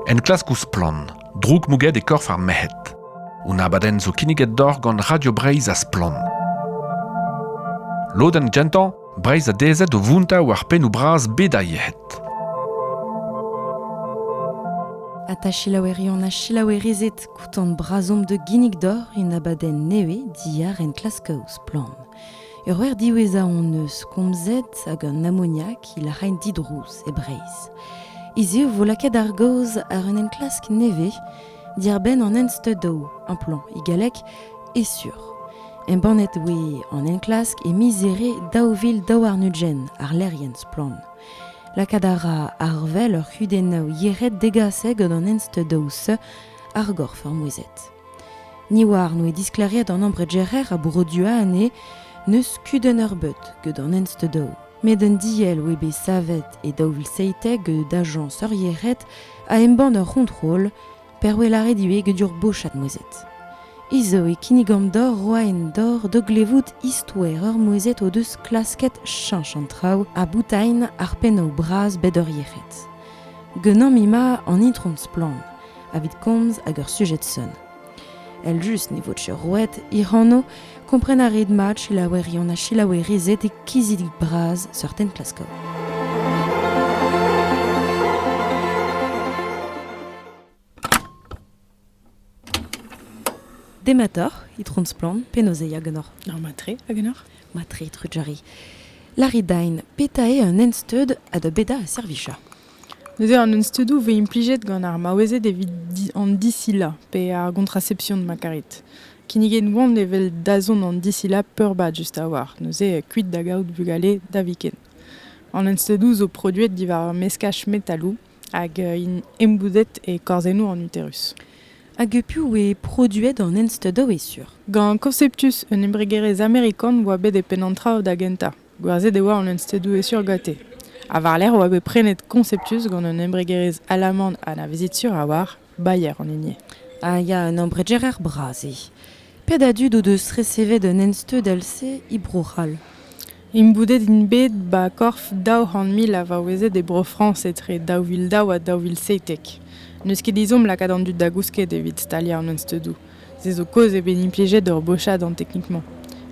Enklask ouzh Splann! droukmouget e korf ar merc'hed. Un abadenn zo kinniget deoc'h gant Radio Breizh ha Splann. Lodenn gentañ, Breizh a dezhet o vountañ war pennoù bras bed ar yec'hed. Ha ta selaoueri on a selaouerizet koutan brazomp de ginnig d'or un abadenn nevez diar enklask ouzh Splann! Ur wer diwezhañ hon eus komzet hag an amoniak il a raent didrouz e Breizh. Hiziv vo lakaet ar gaoz àr un enklask nevez diàr-benn an ensteudoù amplant e galleg e sur. Embannet oe an enklask e miz Here daou vil daou warn-ugent àr lec'hienn Splann. Lakaat a ra ar vel ur c'hudennoù yec'hed degasset gant an ensteudoù-se ar gorf ar mouezhet. Ni oar n'oe disklêriet an ambregerer a broduañ anezhe n'eus kudenn eurbeut gant an ensteudou, met un diell oe bet savet e daou vil seitek gant ajañs eurieret a embann ur c'hontrol per oe lâret ivez get ur bochad mouezhet. Hiziv e kinnigomp deoc'h roa en dor da glevout istoer ur mouezhet o deus klasket cheñch an traoù ha boutailh ar pennoù bras bet eurieret. Ganeomp ema an itron Splann. evit komz hag ur sujed sonn. El-just ne vo roet hir anv, kompren a rit mat selaouerion ha selaouerized e kizidik bras seurten klasko. Demator, itron splan, penozeiak genor. Ar matre, a genor? Matre, trujari. Laridain, petae un ensteud a da beda a servicha. Neuze an unsteudoù 'vez implijet gant ar maouezed evit an disilañ pe ar gontraception ma karit. Kinniget 'oant evel dazont an disilañ peurbad just a-walc'h, neuze kuit da gaout bugale da viken. An unsteudoù zo produet diwar meskaj metaloù hag int embouzet e korzennoù an uterus. Hag piv oa produet an unsteudoù e sur? Gant Conceptus, un embregerezh amerikan 'oa bet e penn an traoù da gentañ. Gwerzhet e oa an unstêdoù-hesur ganti, ha war-lerc'h e oa bet prenet Conceptus gant un embregerezh alaman anavezet sur a-walc'h, Bayer an hini. Ah ya, un embregerer bras eo. Pet a dud o deus resevet un ensteudell-se e Bro-C'hall? Imboudet int bet 'ba korf daou c'hant mil a vaouezed e Bro-Frañs etre daou vil daou ha daou vil seitek. N'eus ket ezhomm lakaat an dud da gousket evit staliañ an unsteudoù. Se zo kaoz eo bet implijet ur bochad an teknik-mañ.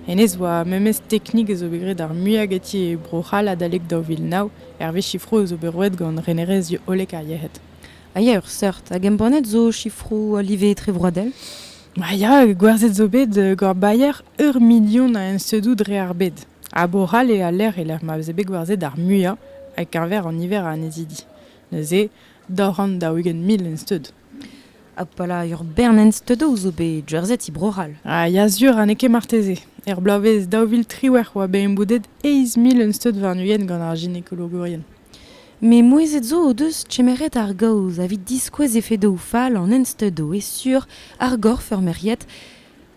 Hennezh oa memes teknik a zo bet graet ar muiañ ganti e Bro-C'hall adalek daou vil nav, hervez sifroù a zo bet roet gant renerezh hollek ar yec'hed. Ah ya, ur seurt. Hag embannet zo sifroù a live etrevroadel Ah ya, gwerzhet zo bet euh, gant Bayer ur milion a ensedoù dre ar bed. Ha Bro-C'hall eo a lec'h e lec'h ma veze bet gwerzhet ar muiañ, ha keñver an niver a annezidi. Neuze, daou c'hant daou-ugent mil ensteud. Abalamour Bernenz Teudou zo bet jerseti Bro-C'hall. Ah, ya sur, ha n'eo ket marteze. Er bloavezh daou vil triwec'h oa bet emboudet eizh mil un steud warn-ugent gant ar ginekologourien. Me mouezhet zo o deus kemeret ar gaoz avit diskouez efedoù fall an ensteudoù e sur ar gorf ur merc'hied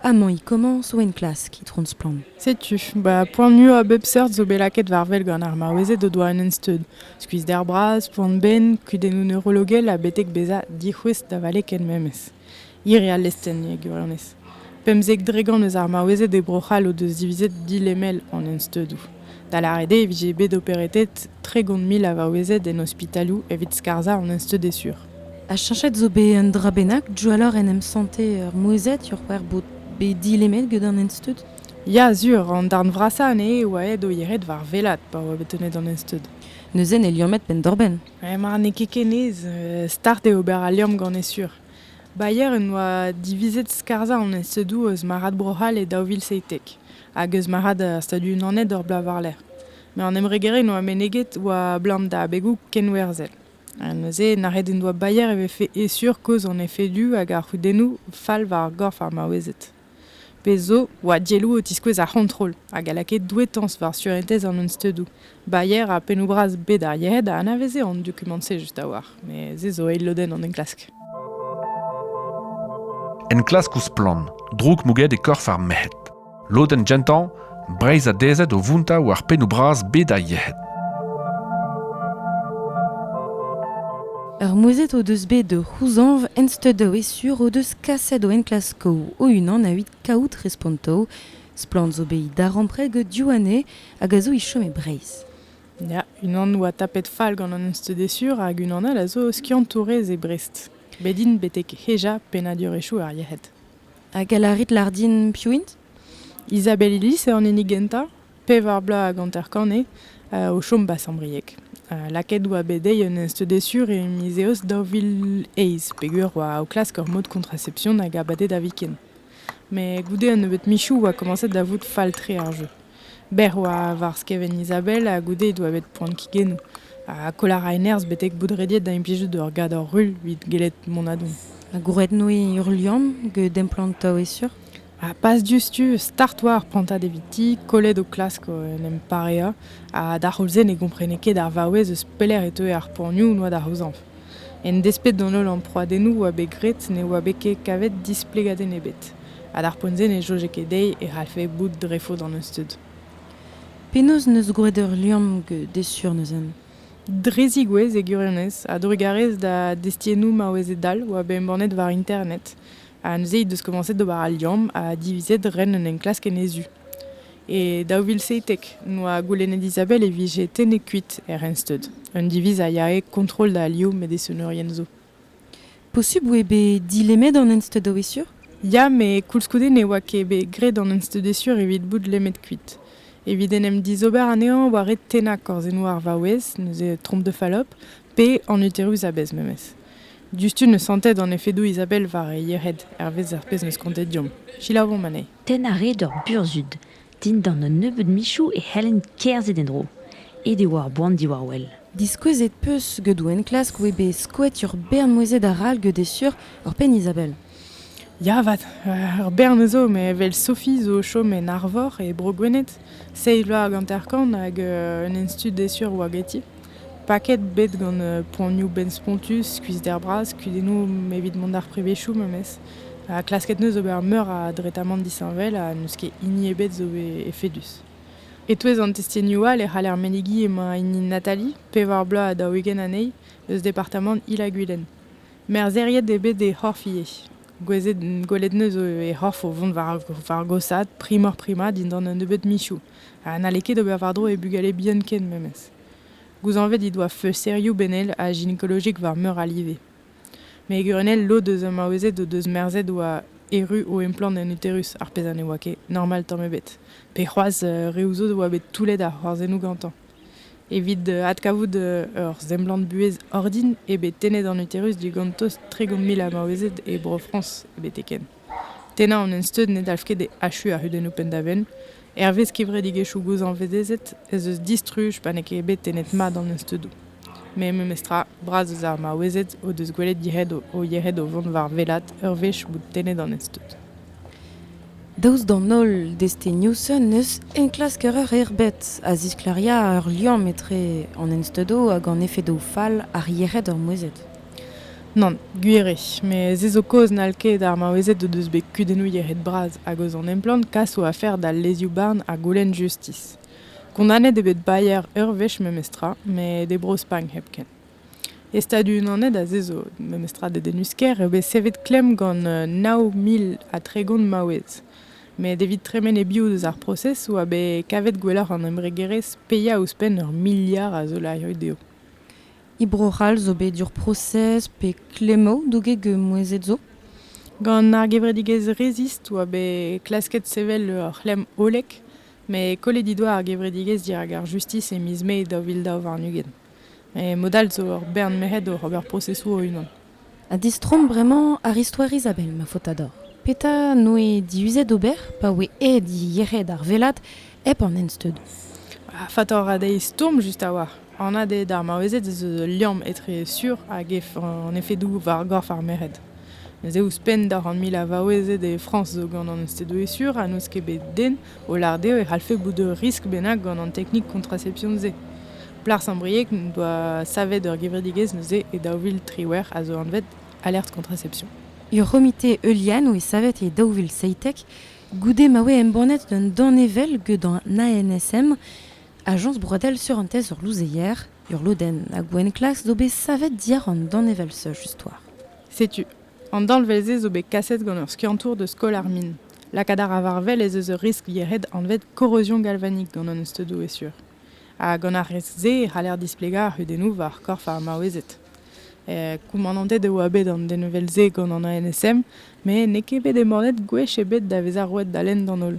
Amañ e komañs o enklask, itron Splann. Setu, ba poan muiañ a bep seurt zo bet lakaet war wel gant ar maouezed o doa un ensteud. Skuizhder bras, poan-benn, kudennoù neurologel ha betek bezañ dic'houest da vale ken memes. Hir eo al lestenn e gwirionez. Pemzek dregont eus ar maouezed e Bro-C'hall o deus divizet dilemel an ensteudoù. Da lâret eo e vije bet operetet tregont mil a vaouezed en ospitaloù evit skarzhañ an ensteud e sur. Ha cheñchet zo bet un dra bennak diwalloc'h en em santer ur mouezhad c'hwec'h bod bet dilemet gant an ensteud Ya sur, an darn vrasañ anezhe e oa aet o yec'hed war welat pa oa bet tennet an ensteud. Neuze ne liammed penn-doc'h-benn. Eh ma n'eo ket kenez, start eo ober al liamm gant e sur. Bayer en doa divizet skarzhañ an ensteudoù eus marc'had Bro-C'hall e daou vil seitek hag eus marc'had ar Stadoù-Unanet ur bloaz war-lerc'h. Met an embregerezh en doa meneget oa 'blam da abegoù kenwerzhel. Ha neuze, nac'het en doa Bayer e vefe e-sur kozh an efedoù hag ar c'hudennoù fall war ar gorf ar maouezed. Pezh zo, oa dielloù o tiskouez ar c'hontrol hag a lakae douetañs war surentez an unsteudoù. Bayer ha pennoù-bras bet ar yec'hed a anaveze an dokumant-se just a-walc'h, met se zo eil lodenn an enklask. Enklask ouzh splann, droug mouget e korf ar merc'hed. Lodenn gentañ, Breizh a dezhed o vountañ war pennoù bras bed ar yec'hed. Ur mouezhet o deus bet o c'houzañv ensteudoù e sur o deus kaset o enklaskoù o-unan evit kaout respontoù. Splann zo bet darempred gant Diouane hag a zo e chom e Breizh. Ya, unan oa tapet fall gant an ensteudesur hag unan all a zo skiantourez e Brest. Bet int betek hejañ pennadurezhioù ar yec'hed. Hag a lârit lar din piv int? Isabelle Ilis eo an hini gentañ, pevar bloaz hag hanter-kant eo, o chom 'ba Sant-Brieg. lakaet oa bet dezhi un ensteudez sur e miz Eost daou vil eizh peogwir oa o klask ur mod kontracepsion hag abadenn da viken. Met goude un nebeud michoù oa komañset da vout fall-tre ar jeu. Bec'h oa war skevent Izabel ha goude he doa bet poan kigennoù. Ha koll a rae nerzh betek bout rediet da implijout ur gador rull evit gellet mont a-don. Ha gwrednoe ruilhan get emplantañ e-sur? Ha pas diouzhtu, start oa ar prantad eviti, kollet o klask en em pareañ. Ha d'ar c'houlz-se ne gomprene ket ar vaouez eus pelec'h e teue ar poanioù 'noa da c'houzañv. En desped d'an holl amprouadennoù 'oa bet graet ne oa bet ket kavet displegadenn ebet, ha d'ar poent-se ne soñje ket dezhi e c'hallfe bout dre faot an euzhtud. Penaos 'neus gwraet ur liamm desur neuzen? Dre zigouez e gwirionez, a-drugarez da destiennoù maouezed all 'oa bet embannet war internet, ha neuze he deus komañset d'ober al liamm ha divizet ren un enklask en he zu. E daou vil seitek noa goulennet Isabelle e vije tennet kuit er Rensteud, un diviz a yae kontrol da alioù medesonerien zo. Posubl eo bet dilemmet an Ensteud a-wezhur? Ya, met koulskoude ne oa ket bet graet an Ensteudesur evit bout lemmet kuit. Evit en em dizober anezhañ war red tennañ korzennoù ar vaouez, neuze trompe de falope, pe an uterus a-bezh memes. Diouzhtu ne santet an efedoù Isabelle war he yec'hed, hervez ar pezh 'm eus kontet deomp. Selaouomp anezhe. Tenn a rae ur burzhud dindan un nebeud michoù e c'hellent kerzhet en-dro. Aet e oa ar boan diwar-wel. Diskouezet 'peus gedoù enklask 'oe bet skoet ur bern mouezhed arall get Esur, ur penn Izabel. Ya 'vat, ur bern zo met evel Sophie zo o chom en Arvor e Bro-Gwened, seizh vloaz hag hanter-kant hag un enstud Esur 'oa ganti. Paket bet gant poanioù benn-spontus, skuizhder bras, kudennoù evit mont d'ar prevezioù memes. Ha klasket 'neus ober meur a dretamant disheñvel ha n'eus ket hini ebet zo bet efedus. E-touez an testenioù all e c'haller menegiñ emañ hini Nathalie, pevar bloaz ha daou-ugent anezhi, eus departamant Il-ha-Gwilen. Merzheriet eo bet he c'horf ivez. Gwelet 'neus he c'horf o vont war gosaat, primoc'h-primañ dindan un nebeud michoù. ha n'halle ket ober war-dro e bugale bihan ken memes. Gouzañvet he doa feusterioù benel ha ginekolojik war meur a live. Met e gurunell, lod eus ar maouezed o deus merzet oa erru o emplann en uterus, ar pezh ha ne oa ket normal tamm ebet. Pe c'hoazh uh, reoù zo a oa bet toullet ar c'hoarzhennoù gantañ. Evit uh, adkavout uh, ur semblant buhez ordin eo bet tennet an uterus digant tost tregont mil a maouezed e Bro-Frañs betek-henn. Tennañ an ensteud ne dalv ket achuiñ ar c'hudennoù penn-da-benn. Hervez kevredigezhioù gozhañvezezet ez eus distruj pa n'eo ket bet tennet mat an ensteudoù. Met memestra, bras eus ar maouezed o deus gwelet yec'hed o yec'hed o vont war wellaat ur wech bout tennet an ensteud. Daoust d'an holl destenioù-se n'eus enklasker eur erbet a zisklêria ur liamm etre an ensteudoù hag an efedoù fall ar yec'hed ur mouezhet. Nann, gwir eo, met se zo kaoz n'hall ket ar maouezed o deus bet kudennoù yec'hed-bras hag eus an emplann kas o afer d'al lezioù-barn ha goulenn justis. Kondanet eo bet Bayer ur wech memestra, met e Bro-Spagn hepken. E Stadoù-Unanet ha se zo memestra dedennus-kaer eo bet savet klemm gant nav mil ha tregont maouez. Met evit tremen e-biou deus ar prosez oa bet kavet gwelloc'h an embregerezh paeañ ouzhpenn ur miliard a zolarioù dezho. E Bro-C'hall zo bet ur prosez pe klemmoù douget gant mouezhed zo. Gant ar gevredigezh Resist oa bet klasket sevel ur c'hlemm hollek met kollet he doa ar gevredigezh dirak ar justis e miz Mae daou vil daou warn-ugent. Mod all zo ur bern merc'hed oc'h ober prosesoù o-unan. Ha distroomp bremañ àr istoer Izabel, ma faotr-ador. Petra 'noe diuzet ober pa oe aet yec'hed ar vellad hep an ensteudoù? Ha faotr ha dezhi stourm just a-walc'h. Anat eo d'ar maouezed ez eus ul liamm etre sur hag an efedoù war gorf ar merc'hed. Neuze ouzhpenn daou c'hant mil a vaouezed e Frañs zo gant an ensteudoù sur ha n'eus ket bet den O lâret eo e c'hallfe bout ur riskl bennak gant an teknik kontraception-se. Plas ar brieg n'en doa savet ur gevredigezh neuze e daou vil triwec'h a zo anvet Alerte Contraception. Ur c'homite heulian oe savet e daou vil seitek goude ma oe embannet un danevell get an ANSM, Ajañs broadel surentez ur louzeier, ur lodenn a gouent-klas zo bet savet diàr an danevell-se just war. Setu An danvez-se zo bet kaset gant ur skiantour deus Skol ar Min. Lakaat a ra war-wel ez eus ur riskl yec'hed anvet korrozion galvanik gant an steudoù e-sur. Ha gant ar riskl-se e c'haller displegañ ar c'hudennoù war korf ar maouezed. Koumanantet e oa bet an denvel-se gant an ANSM met n'eo ket bet embannet gwech ebet da vezañ roet da lenn d'an holl.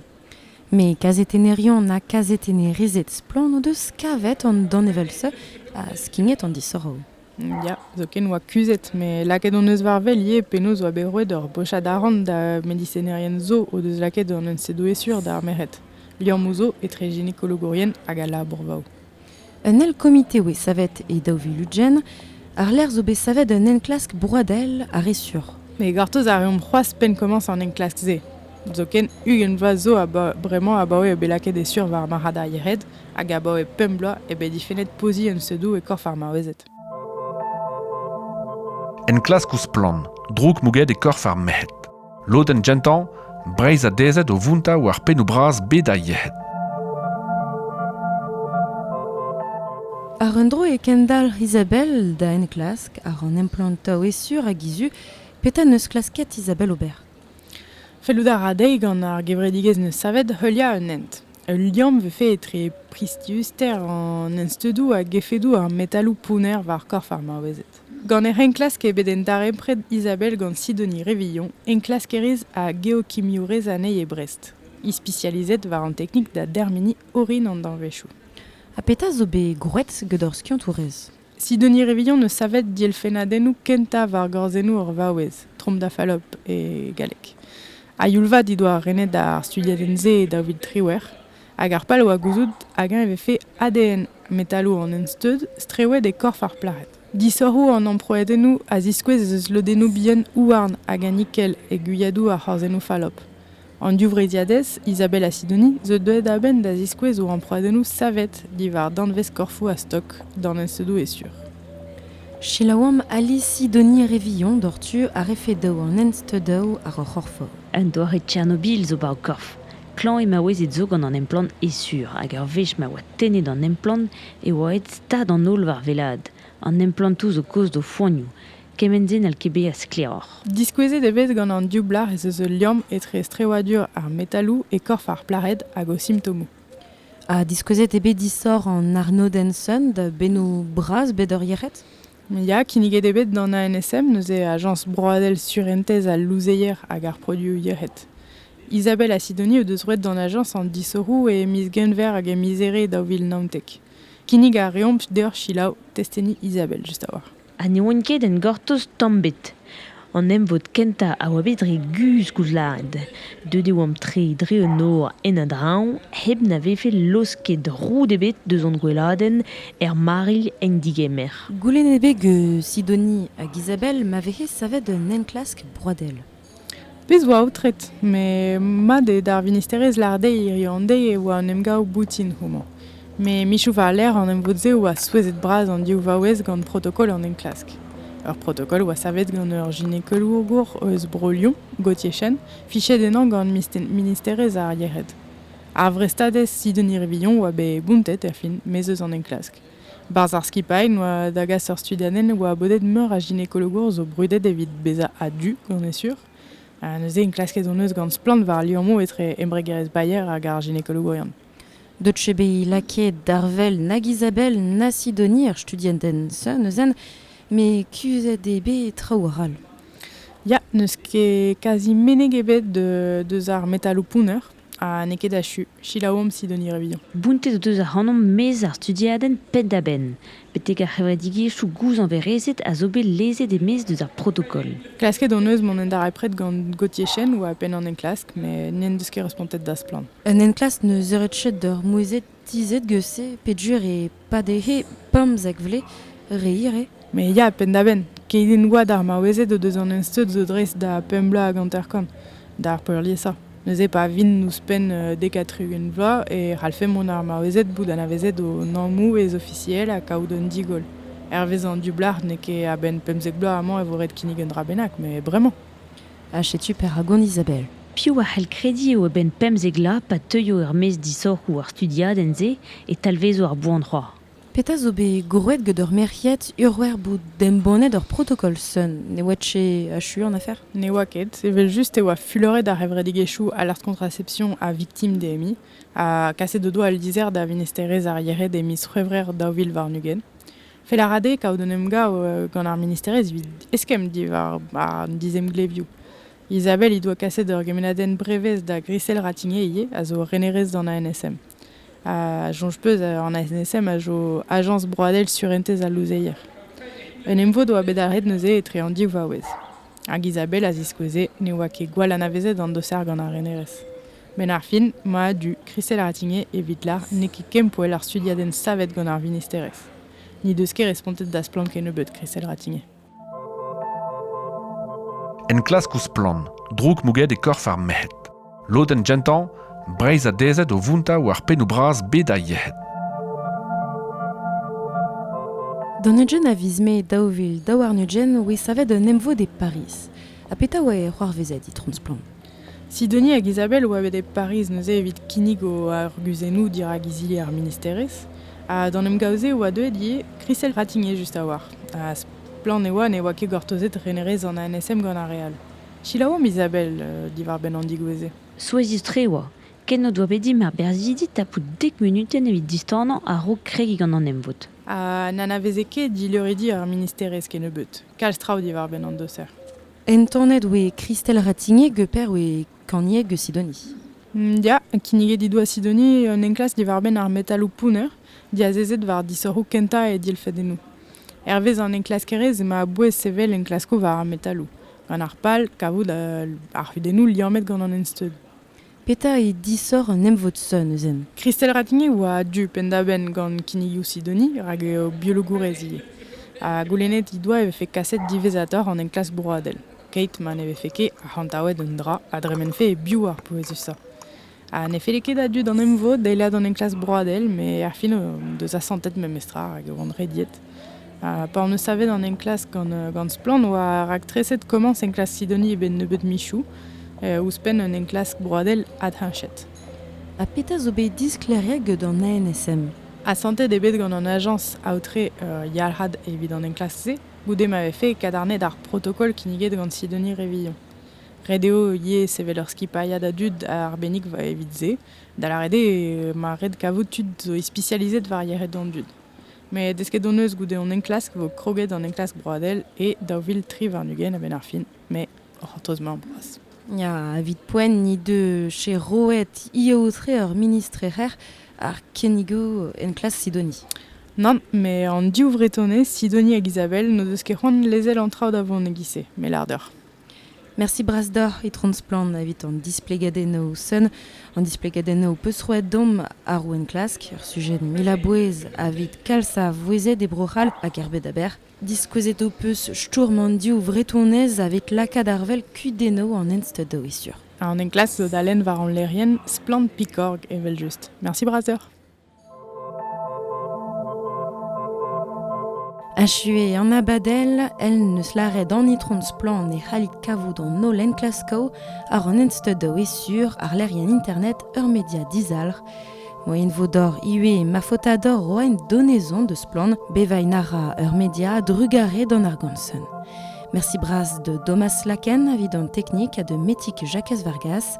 Met kazetenerion ha kazetennerezed splann o deus kavet an danevell-se ha skignet an disoc'hoù. Ya, zoken oa kuzhet, met lakaet hon eus war wel ivez penaos oa bet roet ur bochad arant da medisinerien zo o deus lakaet an unsedoe-sur d'ar merc'hed, liammoù zo etre ginekologourien hag al labour-vaoù. Un eil komite oa savet e daou vil ugent, àr-lerc'h zo bet savet un enklask broadel ha re sur. Met gortoz a reomp c'hoazh penn komañs an enklask-se. Zoken ugent vloaz zo bremañ abaoe eo bet lakaet e sur war marc'had ar yec'hed hag abaoe pemp bloaz eo bet difennet poziñ unsedoù e korf ar maouezed. Enklask ouzh Splann! droug mouget e korf ar merc'hed. Lodenn gentañ, Breizh adezet o vountañ war pennoù bras bed ar yec'hed. Àr un dro e kendalc'h Isabelle da enklask àr an emplantañ e sur hag e zu. Petra 'neus klasket Isabelle ober? Fellout a ra dezhi gant ar gevredigezh 'neus savet heuliañ un hent. Ul liamm 'vefe etre priziuster an ensteudoù hag efedoù ar metaloù pounner war korf ar maouezed. Gant hec'h enklask eo bet darempred Isabelle gant Sidonie Revillon, enklaskerez ha geokimiourez anezhi e Brest, ispisializet war an teknik da dermeniñ orin an danvezioù. Ha petra zo bet gwraet gant hor skiantourez? Sidonie Révillon eus savet dielfennadennoù kentañ war gorzennoù ur vaouez, Trompe da Fallope e galleg. A youl-vat he doa renet ar studiadenn-se daou vil triwec'h, hag ar pal a oa gouzout hag-eñ e vefe ADN metaloù an ensteud strewet e korf ar plac'hed. Disoc'hoù an amprouadennoù a ziskouez ez eus lodennoù bihan houarn hag a nikel e gwiadoù ar c'horzennoù fallope. An divreizhiadez Isabella Sidoni zo deuet a-benn da ziskouez o amprouadennoù savet diwar danvez korfoù a-stok danvezedoù e-sur. Selaouamp Ali Sidoni re vihan doc'htu a refe daou an hensteudaoù àr ur c'horf-vor. Un doare Tchernobil zo ba ho korf. Klañv eo maouezed zo gant an emplann e-sur hag ur wech ma oa tennet an emplann e oa aet stad an holl war wellaat. An emplantoù zo kaoz d'o foanioù. Kement-se n'hall ket bezañ sklaeroc'h. Diskouezet eo bet gant an div blac'h ez eus ul liamm etre strewadur ar metaloù e korf ar plac'hed hag o simptomoù. Ha diskouezet eo bet disoc'h an arnodenn Sun da bennoù bras bet ur yec'hed? Ya, kinniget eo bet d'an ANSM, neuze Ajañs broadel surentez al louzeier hag ar produoù yec'hed. Isabelle ha Sidoni o deus roet d'an ajañs an disoc'hoù e miz Genver hag e miz Here daou vil naontek. Kinnig a reomp deoc'h selaou testenniñ Isabelle just a-walc'h. ha ne oant ket en gortoz tamm ebet. An emvod kentañ a oa bet re guzh koulzad. Deuet e oamp tre dre un nor en a-dreñv hep na vefe laosket roud ebet deus hon gweladenn er marilh en digemer. Goulennet eo bet gant Sidonie hag Isabelle ma vehe savet un enklask broadel. Pezh 'oa aotret, met mat eo d'ar vinisterezh lâret dezhi hiziv an deiz e oa un emgav boutin houmañ. Met michoù war-lerc'h an emvod-se oa souezhet-bras an div vaouez gant protokol an enklask. Ur protokol oa savet gant ur ginekolour eus Bro-Lyon, Gauthier Chen, fichet ennañ gant ministerezh ar yec'hed. Ar vrestadez Sidonie Rivilhon oa bet bountet er fin, maez eus an enklask. Barzh ar skipailh oa da gas ur studiadenn oa bodet meur a ginekologour zo brudet evit bezañ a-du, on est sûr. Ha neuze enklasket hon eus gant splann war liammoù etre embregerezh Bayer hag ar ginekologourion. Deuet eo bet lakaet d'ar well nag Isabelle na Sidonie ar studiadenn-se neuzen, met kuzhet eo bet traoù arall. Ya, n'eus ket kazi meneg ebet deus ar metaloù pounner. Ha n'eo ket achu. Selaouomp Sidonie Revillan. Bountet o deus ac'hanomp maez ar studiadenn penn-da-benn, betek ar c'hevredigezhioù gouzañverezed a zo bet lezet e-maez deus ar protokol. Klasket hon eus mont en darempred gant Gauthier Chen oa penn an enklask met n'en deus ket respontet da Splann! Un enklask 'neus eured chet d'ur mouezed tizhet geus-se peadjur e pa d'he pemzek vle reir eo. Me ya, penn-da-benn, keit int oad ar maouezed o deus an ensteud zo dreist da pemp bloaz hag hanter-kant, d'ar peurliesañ. Neuze pa vint ouzhpenn dek ha tri-ugent vloaz e c'hallfe mont ar maouezed bout anavezet o nammoù ez-ofisiel ha kaout un digoll. Hervez an dioublac'h n'eo ket a-benn pemzek bloaz amañ e vo ret kinnig un dra bennak, met bremañ. ha setu perak on Isabelle. Piv a c'hell krediñ eo a-benn pemzek vloaz pa teuio er-maez disoc'hoù ar studiadenn-se e talvezo ar boan c'hoazh? Petra zo bet grouet get ur merc'hed urwer bout embannet ur protokol sun? Ne oa-t-se achu an afer? Ne oa ket, evel-just e oa fuloret ar c'hevredigezhioù Alers Contraception ha Victim-DMI ha kaset o doa al lizher da Vinester-ez ar Yered e miz C'hwevrer daou vil warn-ugent. Fel a ra dezhe kaout un emgav gant ar ministerezh evit eskemm diwar an dizemglevioù. Isabelle he doa kaset ur gemennadenn brevez da Grisel Ratigné ivez, a zo renerez d'an ANSM. Ha soñj peus, an ANSM a zo ajañs broadel surentez al louzeier. Un emvod oa bet arret neuze etre an div vaouez. Hag Isabelle a ziskoueze ne oa ket gwall anavezet an doser gant ar renerez. Benn ar fin, mad-du Christelle Ratingue evit lar n'eo ket kempoell ar studiadenn savet gant ar vinisterezh. N'he deus ket respontet da splann kennebeut Christelle Ratingue. Enklask ouzh splann, droug mouget e korf ar merc'hed. Lodenn gentañ, Breizh a dezhet o vountañ war pennoù bras bet a yec'hed. D'an Eugene a viz me daou vil daou warn-ugent oe savet un emvod e Pariz. Ha petra oa e c'hoarvezet, itron Splann? Sidoni hag Izabel oa bet e Pariz neuze evit kinnig o arguzennoù dirak izili ar ministerezh. Ha d'an emgav-se e oa deuet ivez Chriselle Ratigné just a-walc'h. Ha splann e oa ne oa ket gortozet renerezh an ANSM gant ar re all. Selaouomp Izabel diwar-benn an digouezh-se. Souezhus-tre e oa ken o doa bet dimp ar berzhidi tapout dek munutenn evit distanañ a-raok kregiñ gant an emvod. Ha n'anaveze ket dileuridi ar ministerezh kennebeut kalz traoù diwar-benn an doser. Entanet oe Kristel Ratignieg, per oe kanieg eus Sidoni. Ya, kinniget he doa Sidoni un enklask diwar-benn ar metaloù pounner diazezet war disoc'hoù kentañ e dilfedennoù. Hervez an enklaskerezh emañ a-bouez sevel enklaskoù war ar metaloù, gant ar pal kavout ar c'hudennoù liammet gant an ensteud. Petra eo disoc'h un emvod sonn neuzen? Christelle Ratigny a oa a-du penn-da-benn gant kinnigoù Sidoni rak eo biologourez ivez. Ha goulennet he doa e vefe kaset diwezhatoc'h an enklask broadel, keit ma ne vefe ket arc'hantaouet un dra a dremenfe e-biou ar pouezusañ. Ha ne felle ket a-du d'an emvod eilañ an enklask broadel, met ar fin o deus asantet memestra rak e oant rediet. Ha pa hon eus savet an enklask gant, gant Splann! oa raktreset komañs enklask Sidoni e benn nebeud michoù, ouzhpenn un enklask broadel adhenchet. Ha petra zo bet disklêriet get an ANSM? Asantet eo bet gant an ajañs aotre Yalc'had evit an enklask-se, goude ma vefe kadarnaet ar protokol kinniget gant Sidoni Révillon. Ret eo ivez sevel ur skipailhad a dud arbennik evit se, da lâret eo ma ret kavout tud zo ispisializet war yec'hed an dud. Met desket hon eus goude hon enklask e vo kroget an enklask broadel e daou vil tri warn-ugent a-benn ar fin, mais o c'hortoz-mañ boas. Ya, evit poent he deus che roet he aotre ur ministr ec'h ar kennigoù enklas Sidoni. Nann, met an div Vretonez, Sidoni hag Isabelle, n'o deus ket c'hoant lezel an traoù da vont e-giz-se, me lâr deoc'h. Mersi bras deoc'h, Itron Splann, evit an displegadennoù sonn, an displegadennoù ho peus roet domp àr ho enklask, ur sujet mil a bouez evit kalz a vouezhed e Bro-C'hall hag er bed aber. Diskouezet ho peus stourm an div vretonez evit lakaat ar wel kudennoù an ensteud da wistur. An enklask zo da lenn war hon lec'hienn Splann Pikorg evel-just. Mersi bras deoc'h. Achuet an abadell, el n'eus lâret an itron Splann e c'hallit kavout an holl enklaskoù àr an ensteudoù e sur àrlerien internet ur media dizalc'h. Moien vo dor ivez ma faotador oa en donezon de Splann bevain a ra ur media a-drugarez d'an argomsen. Merci bras de Domas Laken evit an teknik ha de Metik Jakez Vargas.